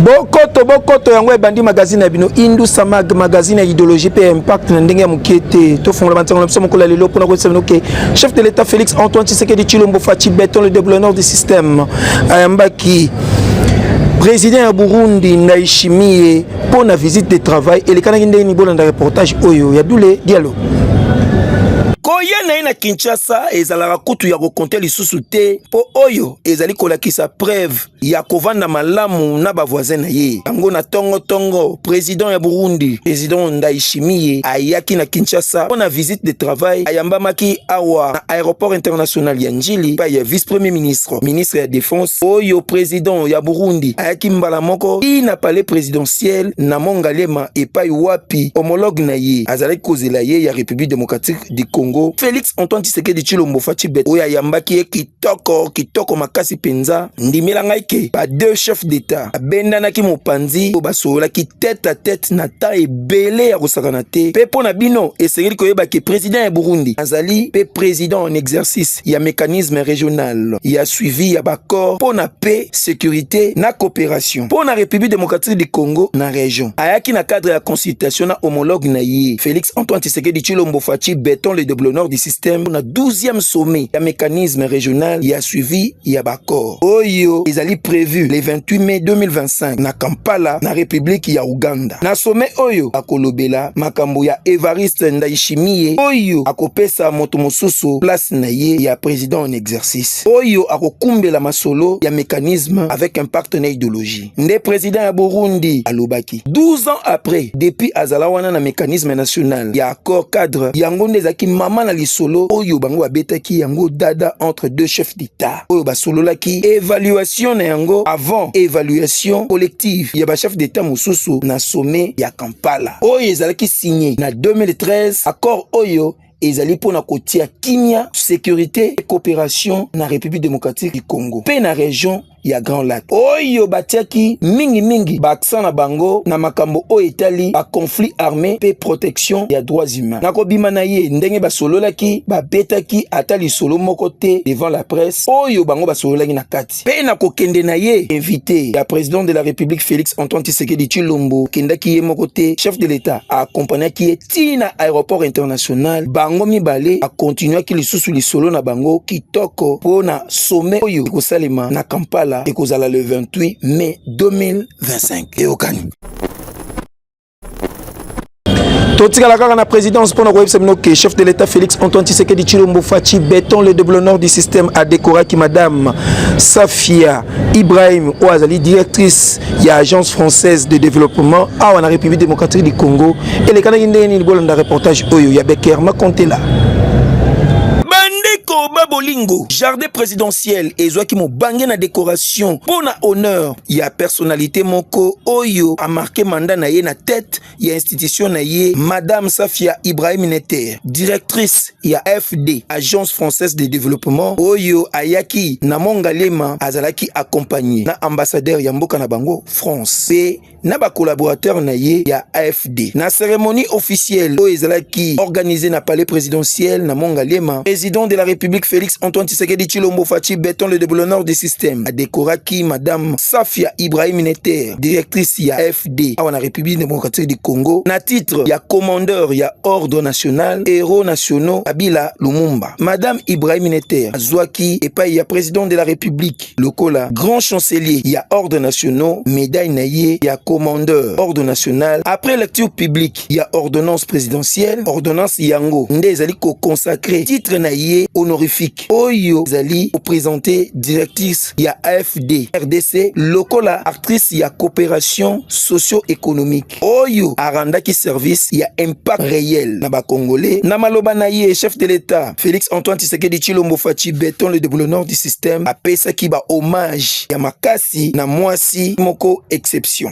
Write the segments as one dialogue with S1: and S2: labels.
S1: bokoto bokoto yango ebandi magazine ya bino indusa mag magazine ya idéologie mpe ya impact na ndenge ya moke te tofongola bantango na biso mokolo ya lelo mpona koyebisa bino ke chef de l'état félix antoine tshisekedi chilombo faci beton le déblonneur du système ayambaki président ya burundi ndayishimiye mpo na visite de travail elekanaki ndenge nini bolanda reportage oyo ya dule dialo koya na ye na kinshasa ezalaka kutu ya kokonte lisusu te mpo oyo ezali kolakisa preuve ya kovanda malamu na bavoisin na ye yango na tongotongo president ya burundi president ndaishimiye ayaki na kinshasa mpo na visite de travail ayambamaki awa na aéroport international ya njili epai ya vice premier ministre Castro, ministre ya defense oyo president ya Burundi ayaki mbala moko ti na palais presidentiel na Mont Ngaliema epai wapi homologue na ye azalaki kozela ye ya Republique democratique du Congo Felix Antoine Tshisekedi Tshilombo Fatshi Beton oyo ayambaki ye kitoko kitoko makasi penza. Ndimela ngai ke ba deux chefs d'etat abendanaki mopanzi oyo basololaki tete à tete na temps ebele ya kosakana te mpe mpo na bino esengeli koyeba ke president ya Burundi azali mpe president en exercice Est ya mecanisme regional ya suivi ya baccord mpo na paix, securite na cooperation mpo na Republique democratique du Congo na region. Ayaki na cadre ya consultation na homologue na ye Felix Antoine Tshisekedi Tshilombo Fatshi Beton le Deblonor du système mpo na 12e sommet ya mecanisme regional ya suivi ya ba accord oyo ezali prevu le 28 mai 2025 na Kampala na Republiki ya Uganda. Na sommet oyo akolobela makambo ya Evariste Ndayishimiye oyo akopesa moto mosusu place na ye ya president en exercice oyo akokumbela masolo ya mecanisme avec impact na ideologie. nde president ya Burundi alobaki 12 ans après depuis azala wana na mécanisme national ya accord cadre yango nde ezalaki mama na lisolo oyo bango babetaki yango dada entre deux chefs d'etat oyo basololaki évaluation na yango avant évaluation collective ya bachef d'etat mosusu na sommet ya Kampala oyo ezalaki signe na 2013 accord oyo ezali mpo na kotia kimia securite et coopération na république démocratique du congo mpe na région ya Grand Lac oyo batiaki mingi mingi baaksan na bango na makambo oyo etali ba conflit armé pe protection ya droits humains. Na kobima na ye ndenge basololaki, babetaki ata lisolo moko te devant la presse oyo bango basololaki na kati. Pe na kokende na ye, invité ya president de la Republique Felix Antoine Tshisekedi Tshilombo kendaki ye moko te, chef de l'Etat a accompagnaki ye tii na aéroport international bango mibale akontinuaki lisusu lisolo na bango kitoko mpo na sommet oyo ekosalema na kampala ekozala le 28 mai 2025 eyokani totikala kaka na présidence mpo na koyebisa bino ke chef de l'état félix antoine tshisekedi tshilombo faci beton le double nord du système adekoraki madame safia Ibrahim oyo azali directrice ya agence française de développement awa na république démocratique du congo elekanaki ndenge nini bolanda reportage oyo ya becker makontela bandeko ba bolingo jardin présidentiel ezwaki mobange na décoration mpo na honneur ya personnalité moko oyo amarke manda na ye na tete ya institution na ye madame safia ibrahim nete directrice ya fd agence française de développement oyo ayaki na mongalema azalaki accompagne na ambassadeur ya mboka na bango france mpe na bacollaborateur na ye ya afd na cérémonie officielle oyo ezalaki organisée na palais présidentiel na mongalema président de la république félix antoine tshisekedi chilombo fachi beton le déboulonneur du système adekoraki madame safia ibrahim nete directrice ya fd RDD awa na République démocratique du Congo na titre ya commandeur ya ordre national héros nationaux Abila Lumumba. Madame Ibrahim Neter azwaki epai ya président de la République lokola grand chancelier ya ordre nationaux médaille na ye ya commandeur ordre national après lecture publique article ya ordonnance présidentielle ordonnance yango nde ezali ko consacrer titre na ye honorifique oyo ezali ko présenter directrice ya AFD RDC lokola actrice ya coopération socio-économique oyo arandaki service ya impact réel na ba congolais na maloba na ye chef de l'État Félix Antoine Tshisekedi Tshilombo Fatshi Beton le déboulonneur du système apesaki ba hommage ya makasi na mwasi moko exception.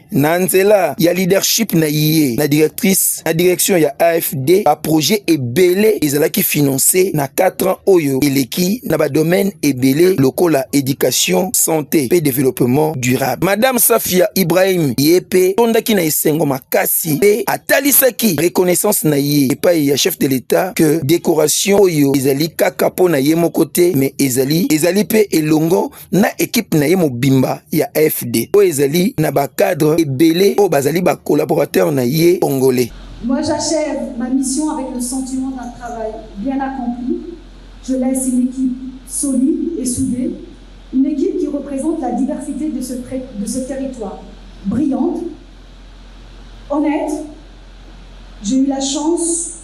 S1: na nzela ya leadership na ye na directrice na direction ya AFD ba projet ebele ezalaki finance na 4 ans oyo eleki na ba domaine ebele lokola education santé pe développement durable madame Safia Ibrahim ye pe tondaki na esengo makasi pe atalisaki reconnaissance na ye epai ya chef de l'etat que décoration oyo ezali kaka pona ye moko te mais ezali ezali pe elongo na ekipe na ye mobimba ya AFD oyo ezali na bacadre ebele oyo bazali bacolaborateur na ye congolais. Moi j'achève
S2: ma mission avec le sentiment d'un travail bien accompli. Je laisse une équipe solide et soudée, une équipe qui représente la diversité de ce, de ce territoire, brillante, honnête. J'ai eu la chance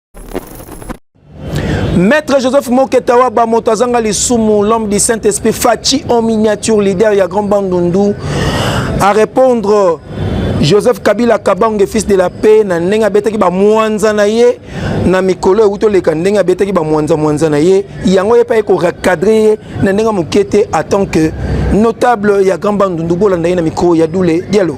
S1: Maître Joseph Moketawa Bamoto azanga lisumu l'homme du Saint-Esprit Fachi en miniature leader ya Grand Bandundu à répondre Joseph Kabila Kabange fils de la paix na ndenge abetaki ba mwanza na ye na mikolo euto leka ndenge abetaki ba mwanza mwanza na ye yango ye pa ko recadrer ye na ndenge moke te en tant que notable ya Grand Bandundu bolanda ye na micro ya Doule Diallo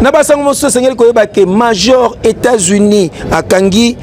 S1: na basango mosusu esengeli koyeba ke major états-unis akangi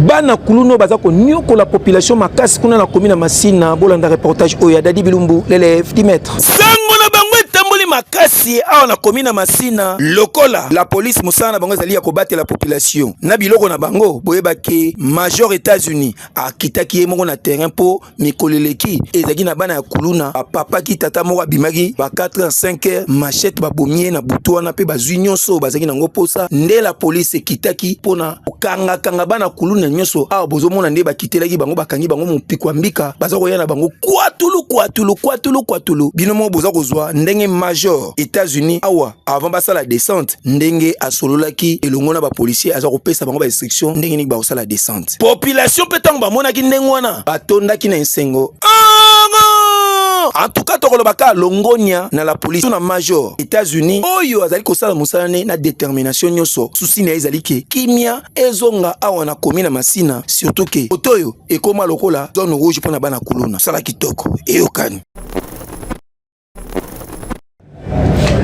S1: bana kuluna oyo baza konyokola population makasi kuna na komi na masina bolanda reportage oyo ya dadi bilumbu lelef dimetre sango na bango etamboli makasi awa na komi na masina lokola la polise mosala na bango ezali ya kobatela population na biloko na bango boyebaki major états-unis akitaki ye moko na terrain mpo mikolo eleki ezalaki na bana ya kuluna bapapaki tata moko abimaki ba 4 heures 5 heures machette babomi ye na butu wana mpe bazwi nyonso oyo bazalaki nango mposa nde la polise ekitaki mpo na kokangakanga bana kuluna nyonso awa bozomona nde bakitelaki bango bakangi bango mopiko ya mbika baza koya na bango kwatulu kwatulu kwatulu kwatulu bino moko boza kozwa ndenge major états-unis awa avant basala descente ndenge asololaki elongo na bapolisier aza kopesa bango bainstruction ndenge nini bakosala descente population mpe ntango bamonaki ndenge wana batondaki na esengo antuka tokoloba kaka longonia na la polisi to na major états-unis oyo azali kosala mosala ne na determination nyonso susi na ye ezali ke kimia ezonga awa na komi na masina surtout ke oto oyo ekóma lokola zone rouge mpo na bana kuluna sala kitoko eyokani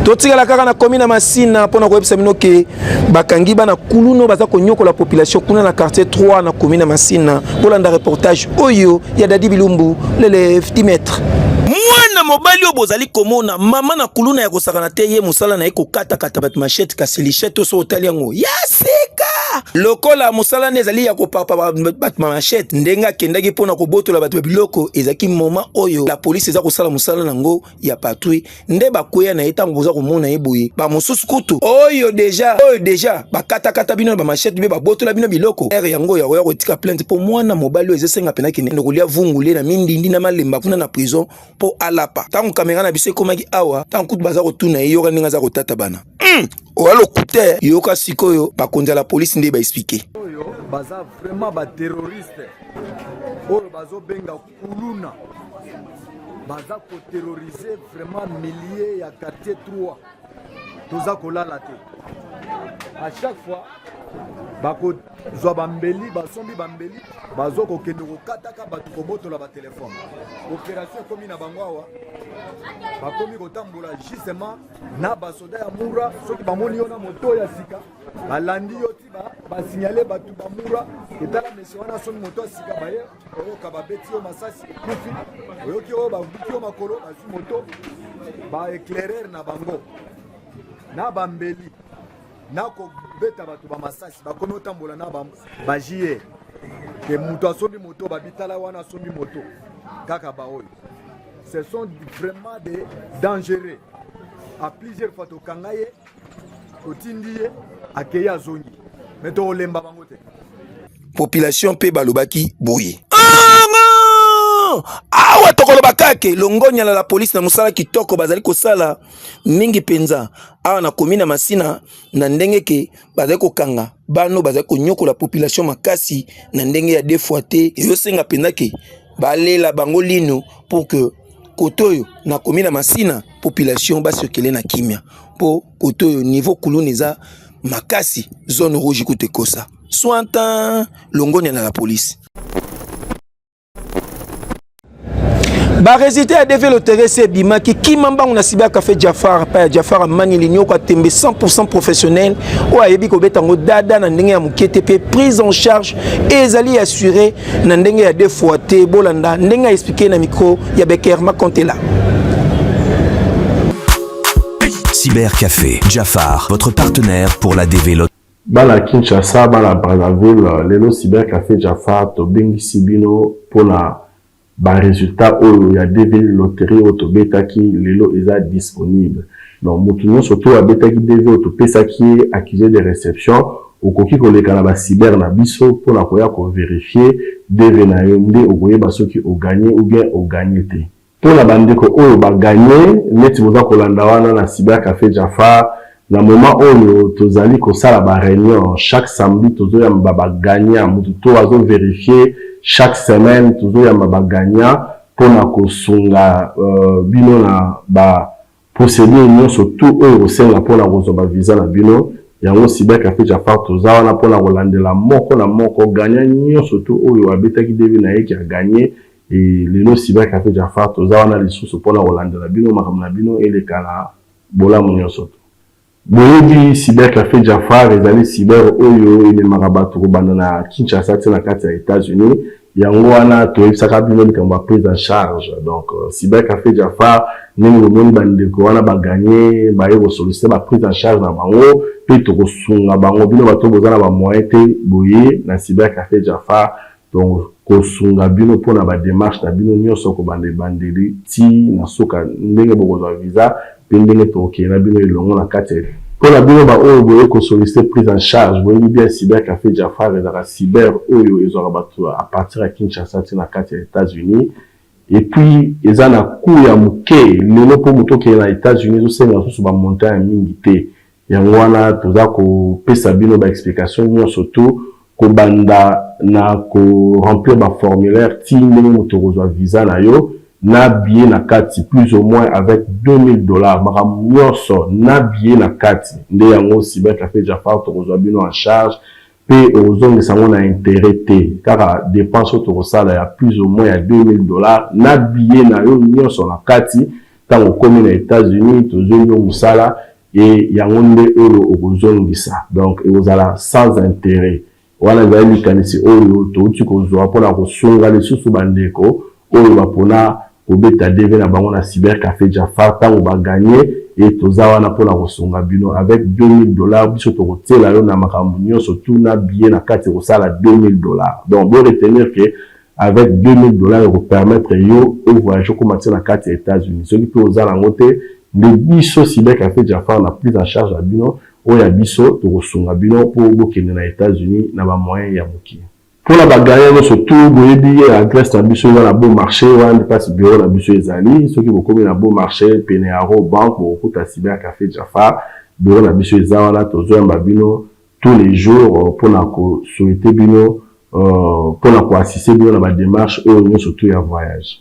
S1: totikala kaka na komi na masina mpo na koyebisa bino ke bakangi bana kuluna baza konyokola population kuna na quartier 3 na komi na masina kolanda reportage oyo ya dadi bilumbu lele 10 mètre mwana mobali oyo bozali komona mama na kuluna ya kosakana te ye mosala na ye kokatakata bato mashete kasi lishete oso otali yango ya sika lokola mosala nde ezali ya kopapa bato mashete ndenge akendaki mpo na kobotola bato ya biloko ezalaki moma oyo la polisi eza kosala mosala na yango ya patrouille nde bakweya na ye ntango boza komona ye boye bamosusu kutu oyo deja oyo deja bakatakata bino na bamashete mpe babotola bino biloko ere yango ya koya kotika plainte mpo mwana mobali oyo ezesenga mpena kende kolia vungule na mindindi na malemba kuna na prison mpo alapa ntango kamera na biso ekomaki awa ntango kutu baza kotuna ye yoka ndenge aza kotata bana hmm! oya lokute yoka sikoyo bakonzi ya la polisi nde baexplike oyo baza
S3: vraiment baterroriste oyo bazobenga kuluna baza koterrorize vraiment milieu ya quartier 3 toza kolala te à chaque fois bakozwa bambeli basombi bambeli bazo kokende kokataka bato kobotola batelefone operation ekomi na bango awa bakomi kotambola justement na basoda ya mura soki bamoni yo na moto ya sika balandi yo basignale bato bamura etala mesio wana soki moto asika baye oyoka babeti yo masasi kufi oyoki oyo babuki yo makolo bazwi moto baeclaireur na bango na bambeli na kobeta bato bamasasi bakomi otambola na bagie ke moto asombi moto babitala wana asombi moto kaka baoyo ce sont vraiment des dangereux à plusieurs fois tokanga ye otindi ye akei azongi me tokolemba bango te population
S1: mpe balobaki boye awa tokoloba kake longonya na la polisi na mosala kitoko bazali kosala mingi mpenza awa na komi na masina na ndenge ke bazali kokanga bano bazali konyokola population makasi na ndenge ya defoi te ezosenga mpenza ke Balela bango linu pour que kote oyo nakomi na masina population basokele na kimya mpo kote oyo niveau kuluna eza makasi zone rouge kutu ekosa sointan longonia na la police baresultat ya deve loterese ebimaki kima mbango na sibi ya cafe jafar mpa ya jafar amani linyoko atembe 100 professionnel oyo ayebi kobeta yango dada na ndenge ya moke te mpe prise en charge ezali assure na ndenge ya deux fois te bolanda ndenge a expliquer na micro ya Beckerma Contela
S4: Cybercafé Jafar votre partenaire pour la développer bana Kinshasa
S5: bana Brazzaville lelo Cybercafé Jafar tobengisi bino mpona ba résultats oyo ya 2000 loterie oyo tobetaki lelo eza disponible Donc mutu nionso to abetaki DV oyo topesaki ye accuse de reception, okoki koleka na ba cyber na biso pona koya ko verifier DV na yo nde okoyeba soki o gagner ou bien o gagner te. Pona ba ndeko oyo ba gagner, neti boza kolanda wana na cyber cafe Jafar, na moment oyo tozali kosala ba reunion chaque samedi tozoyamba ba gagnant mutu to azo verifier chaque semaine tozoyamba ba gagnant pona kosunga bino na ba Procedure nionso tout oyo ekosenga pona kozwa ba visa na bino, yango Cyber Cafe Djafar toza wana pona kolandela moko na moko gagnant nionso tout oyo abetaki devis naye ke a gagne et lelo Cyber Cafe Djafar toza wana lisusu pona kolandela bino makambo na bino eleka na bolamu nionso tout. Boyebi cybercafe Djafar ezali cyber oyo ememaka batu kobanda na Kinshasa ti na kati ya Etats Unis yango wana toyebisaka bino likambo ya prise en charge donc cybercafe Djafar ndenge bomoni ba ndeko wana ba gagne baye ko solicite ba prise en charge na bango pe tokosunga bango bino batu oyo boza na ba moyen te boye na cybercafe Djafar Donc kosunga bino pona ba demarches na bino nionso kobanda ebandeli ti na suka ndenge bokozwa visa pe ndenge tokokende na bino elongo na kati ya Pona bino ba oyo boye ko solliciter prise en charge, boyebi bien Cyber Cafe Jafar ezalaka cyber oyo ezwaka batu a partir ya Kinshasa ti na kati ya Etats Unis et puis eza na cout ya muke lelo po mutu okende na Etats Unis ezo senga lisusu ba montant ya mingi te Yango wana toza ko pesa bino ba explications nionso tout, ko banda na ko remplir ba formulaires ti ndenge mutu okozua visa na yo, na billet na kati plus au moins avec 2000 dollars, makambo nionso na billet na kati nde yango Cybercafe Jafar tokozua bino en charge pe okozongisa yango na interet te, kaka depense oyo toko sala ya plus au moins ya 2000 dollars na billet na yo nionso na kati, tango okomi na Etats-Unis tozui yo musala. et yango nde oyo okozongisa donc ekozala sans interet wana ezali likanisi oyo towuti kozua mpo na kosunga lisusu ba ndeko oyo bapona kobeta DV na bango na cyber cafe Jafar tango ba gagner et toza wana mpo na kosunga bino avec 2000 dollars biso tokotiela yo na makambo nionso tout na billet na kati ekosala 2000 dollars donc bo retenir que Avec 2000 dollars eko permettre yo o voyager okoma ti na kati ya Etats Unis. Soki pe oza nango te, nde biso Cyber Cafe Jafar na prise en charge na bino o ya biso toko sunga bino po bo kende na Etats Unis na ba moyens ya mukie. Pona ba gagnants nionso tout boyebi adresse na biso eza na Beau Marche, wana nde place bureau na biso ezali. Soki bokomi na Beau Marche pene ya Raw Bank bokokuta Cyber Cafe Jafar, bureau na biso eza wana tozo yamba bino. tous les jours pona ko souhaiter bino pona ko assister bino na ba demarches oyo nionso tout ya voyage.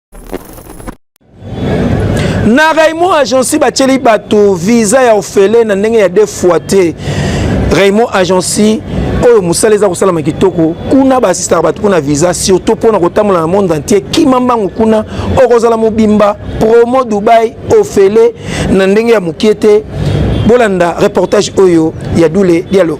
S1: na raymond agency batyeli bato visa ya ofele na ndenge ya de fois te raymond agency oyo mosala eza kosalama kitoko kuna baasistaka bato mpona visa surtout mpona kotambola na monde entier kima mbango kuna okozala mobimba promo dubai ofele na ndenge ya mokie te bolanda reportage oyo ya dule dialo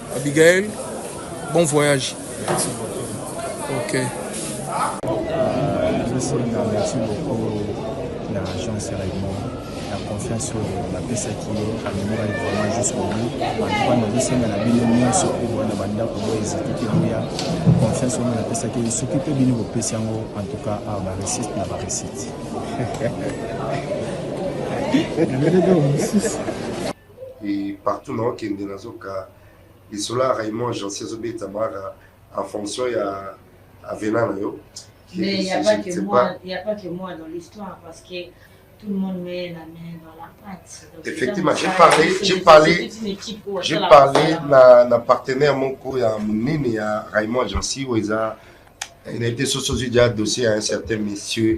S6: Abigail, bon voyage. Merci
S7: beaucoup. Ok. Merci beaucoup na agence Raymond na confiance oyo napesaki ye amemoraki vraiment jusqu'au bout antuka nazosenga na bino nyonso oyo boya na bandako boyo ezitiki boya confiance oyo napesaki ye soki mpe bino bopesi yango antuka a baresite na baresite
S8: et partout na okende nazoka lisolo ya Raymond Jansi azobetamaka en fonction ya avena na yo mais il n'y
S9: a pas que moi il n'y a pas que moi dans l'histoire parce que tout le monde met la main dans la pâte Donc, effectivement j'ai parlé
S8: j'ai parlé j'ai parlé na, na partenaire moko ya monene ya Raymond Jansi oyo eza na ete soso ozwi dia dossier ya un certain monsieur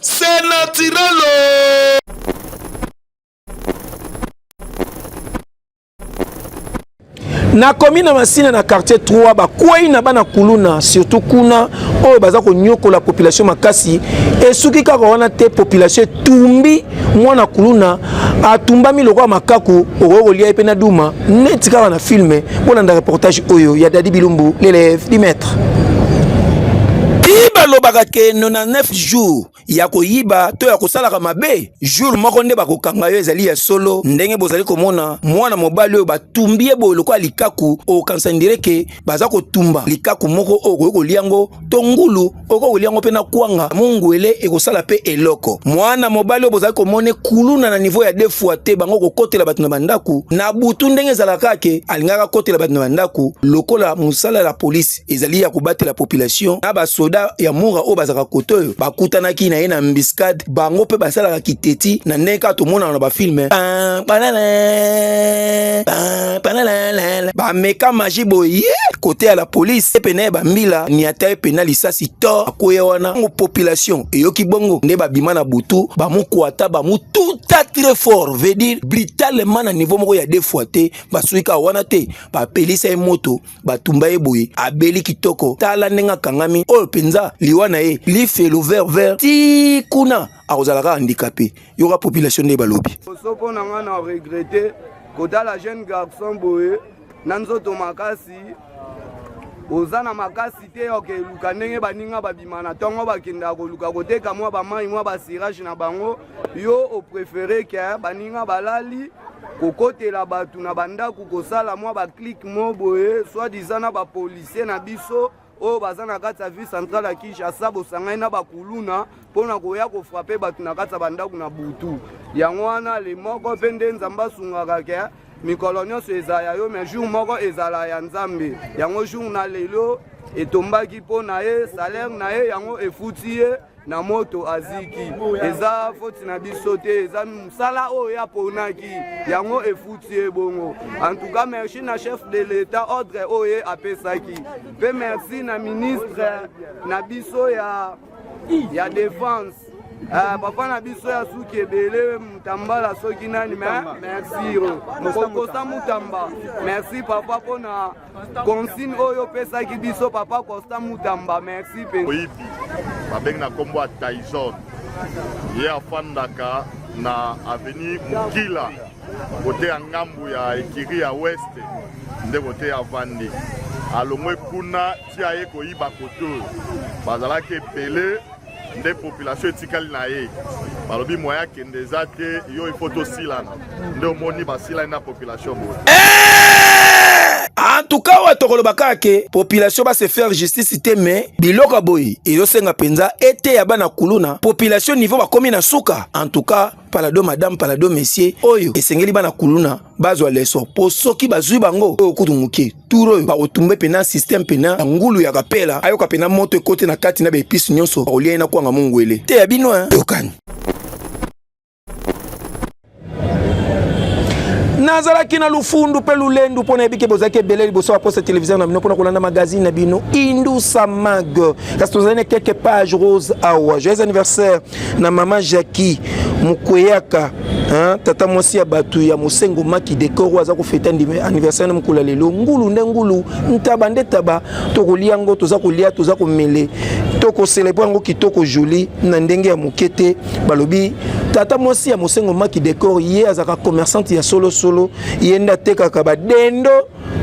S1: C'est naturel. Oh. nakomi na masina na quartier 3 bakwei na bana kuluna surtout kuna oyo baza konyokola population makasi esuki kaka wana te population etumbi mwana kuluna atumbami lokola makaku okoki kolia ye mpe na duma neti kaka na filme bolanda reportage oyo ya dadi bilumbu l'élève du maître balobaka ke 99 jour ya koyiba to ya kosalaka mabe jour moko nde bakokanga yo ezali ya solo ndenge bozali komona mwana mobali oyo batumbi ye boye lokola likaku okokanisa ndire ke baza kotumba likaku moko oyo okoki kolia yango to ngulu okoki kolia yango mpe na kwanga mongwele ekosala mpe eloko mwana mobali oyo bozali komona ekuluna na niveau ya defua te bango kokotela bato na bandako na butu ndenge ezalaka ke alingaka kotela bato na bandako lokola mosala ya polisi ezali ya kobatela population na basoda ya mura oyo bazalaka kote oyo bakutanaki na ye na mbiscade bango mpe basalaka kiteti na ndenge kaka tomonaka na bafilme bameka magi boye kote ya la polise epe na ye bambila niata epe na lisasi to akoya wana ngo population eyoki bongo nde babima na butu bamokwata bamotuta très fort veut dire brutalement na niveau moko ya deux fois te basoki kaka wana te bapelisa ye moto batumba ye boye abeli kitoko tala ndenge akangami oyo mpenza liwa na ye lifelo vert vert ti kuna akozala kaka handikape yoka population nde balobi soko na ngai na
S10: regrete kotala jeune garçon boye na nzoto makasi oza na makasi te oke luka ndenge baninga babima na ntongo bakendaka koluka koteka mwa bamai mwa basirage na bango yo oprefere ke baninga balali kokotela bato na bandako kosala mwa baclike mo boye soit disant na bapolisier na biso oyo baza na kati ya ville centrale ya kinshasa bosangani na bakuluna mpo na koya kofrape bato na kati ya bandako na butu yango wana le moko mpe nde nzambe asungaka ke mikolo nyonso ezala ya yo mais jour moko ezala ya nzambe yango jour na lelo etombaki mpo na ye salaire na ye yango efuti ye na moto aziki eza foti na biso te eza mosala oyo ye aponaki yango efuti ye bongo antuka merci na chef de l'etat ordre oyo ye apesaki mpe merci na ministre na biso ya, ya defense Uh, papa na biso ya suki ebele mutambala soki nani me merci kokosa mutamba merci papa mpona consigne oyo opesaki biso papa costa mutamba merci mpenza oyibi
S11: babengi na nkombo ya tyson ye afandaka na aveni mokila kote ya ngambu ya ekiri ya weste nde kote ya vandi alongwe kuna ti aye koyiba kote oyo bazalaki ebele nde population etikali na ye balobi moya kende eza te yo ifo tosilana nde omoni basilani na population boye eh! en
S1: tout cas oyo tokoloba kaka ke population base faire justice te me biloko ya boye ezosenga mpenza eteya bana kuluna population niveau bakomi na suka en tout cas palado madame palado monsieur oyo esengeli bana kuluna bazwa leso mpo soki bazwi bango oyo kutu moke tour oyo bakotumba mpe na systeme mpe na ngulu ya kapela ayoka mpe na moto ekoti na kati na baepisi nyonso bakolia ye na kwanga mongwele te ya bino yokani nazalaki na lufundu mpe lulendu mpo nayebi ke bozalaki ebele liboso baposa televizio na bino mpona kolanda magazine na bino indusa mag kasi tozali na quelque page rose awa joyeux anniversaire na mama Jackie mukweyaka hein, tata mwasi ya bato ya mosengo maki dekor oyo aza kofete anniversaire na mokolo ya lelo ngulu nde ngulu ntaba nde taba tokolia yango toza kolia toza komele tokoselebre yango kitoko joli na ndenge ya moke te balobi tata mwasi ya mosengo maki dekor ye azalaka commerçante ya solosolo ye nde atekaka badendo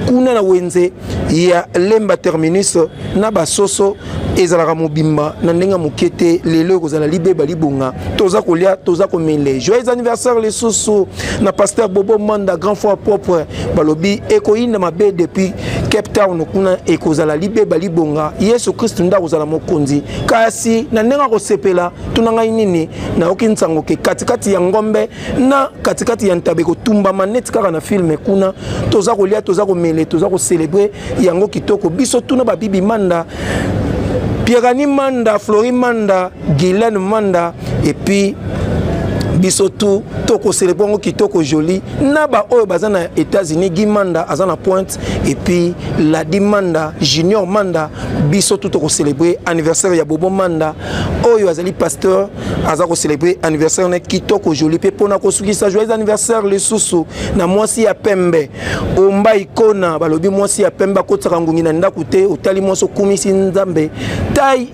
S1: kuna na wenze ya lemba terminus na basoso ezalaka mobimba na ndenge ya moke te lelo ekozala libeba libonga toza kolia toza komele joyeux anniversaire lisusu na pasteur bobo manda grand fois propre balobi ekoyinda mabe depuis cape town kuna ekozala libeba libonga yesu kristu nde akozala mokonzi kasi na ndenge akosepela tuna ngai nini nayoki nsango ke katikati ya ngombe na katikati ya ntabe kotumbama neti kaka na filme kuna toza kolia toza komele toza kocelebre yango kitoko biso tuna babibi manda pierani manda flori manda gilene manda epuis biso tu tokoselebre yango kitoko joli na baoyo baza na états-unis gi manda aza na pointe epuis ladi manda junior manda biso tu tokoselebre anniversaire ya bobo manda oyo azali pasteur aza ko célébrer anniversaire na kitoko joli mpe mpona kosukisa joyeux anniversaire lisusu na mwasi ya pembe omba ikona balobi mwasi ya pembe akotisaka ngungi na ndako te otali mwasi okumisi nzambe tai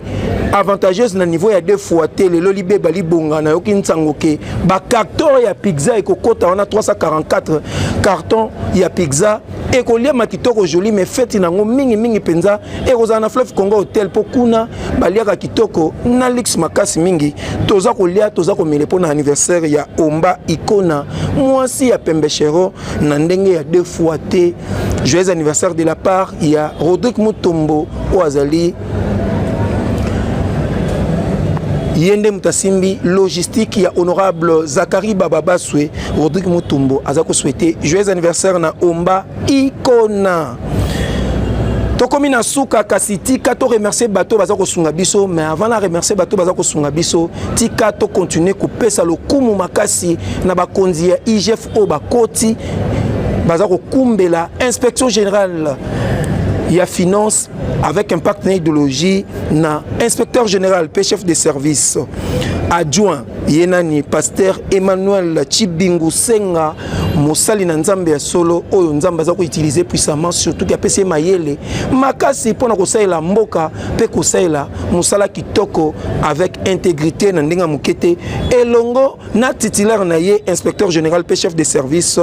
S1: avantageuse na niveau ya deux fois te lelo libeba libonga nayoki nsango ke bacarton ya pizza ekokota wana 344 carton ya pizza ekoliama kitoko joli me feti na yango mingimingi mpenza ekozala na fleuve congo hotel mpo kuna baliaka kitoko na luxe makasi mingi toza kolia toza komele mpo na anniversaire ya omba ikona mwasi ya pembechero na ndenge ya deux fois te joyeux anniversaire de la part ya rodrigue mutombo oyo azali ye nde moto asimbi logistique ya honorable zakari baba baswe rodrigue mutumbo aza koswete joyeux anniversaire na omba ikona tokomi na suka kasi tika to remercier bato baza kosunga biso mais avant na remercier bato baza kosunga biso tika to continuer kopesa lokumu makasi na bakonzi ya igf oyo bakoti baza kokumbela inspection générale ya finance avec impact na idéologie na inspecteur général pe chef de service adjoint ye nani pasteur emmanuel chibingu senga mosali na nzambe ya solo oyo nzambe aza koutilize puissamment surtout ke apesi ye mayele makasi mpo na kosalela mboka mpe kosalela mosala kitoko avec intégrité na ndenge ya moke te elongo na titulaire na ye inspecteur général mpe chef de service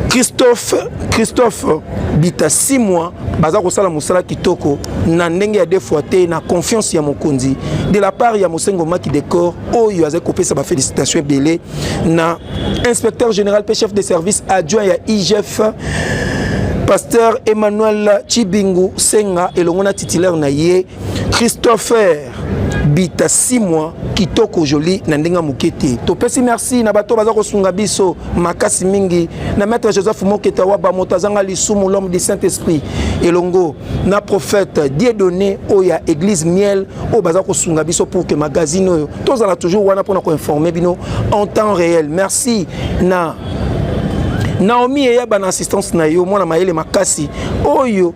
S1: christophe christophe bita simwa baza kosala mosala kitoko na ndenge ya defoi te na confiance ya mokonzi de la part ya mosengo maki decor oyo azali kopesa bafélicitation ebele na inspecteur général mpe chef de service adjoint ya igf pasteur emmanuel chibingu senga elongo na titulaire na ye christopher bita simwa kitoko joli na ndenge moke te topesi merci na bato baza kosunga biso makasi mingi na maître joseph moketa waba moto azanga lisumu l'homme du saint esprit elongo na prophète die donné oyo ya église miel oyo baza kosunga biso pour que magazine oyo tozala toujours wana mpona koinforme bino en temps réel merci na naomi eyaba na assistance na yo mwana mayele makasi oyo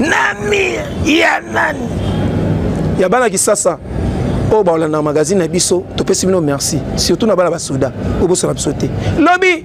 S1: na mire ya nani ya bana kisasa oyo baolandaka magazine na biso topesi bino merci surtout na bana basoda oyo bosala biso te lobi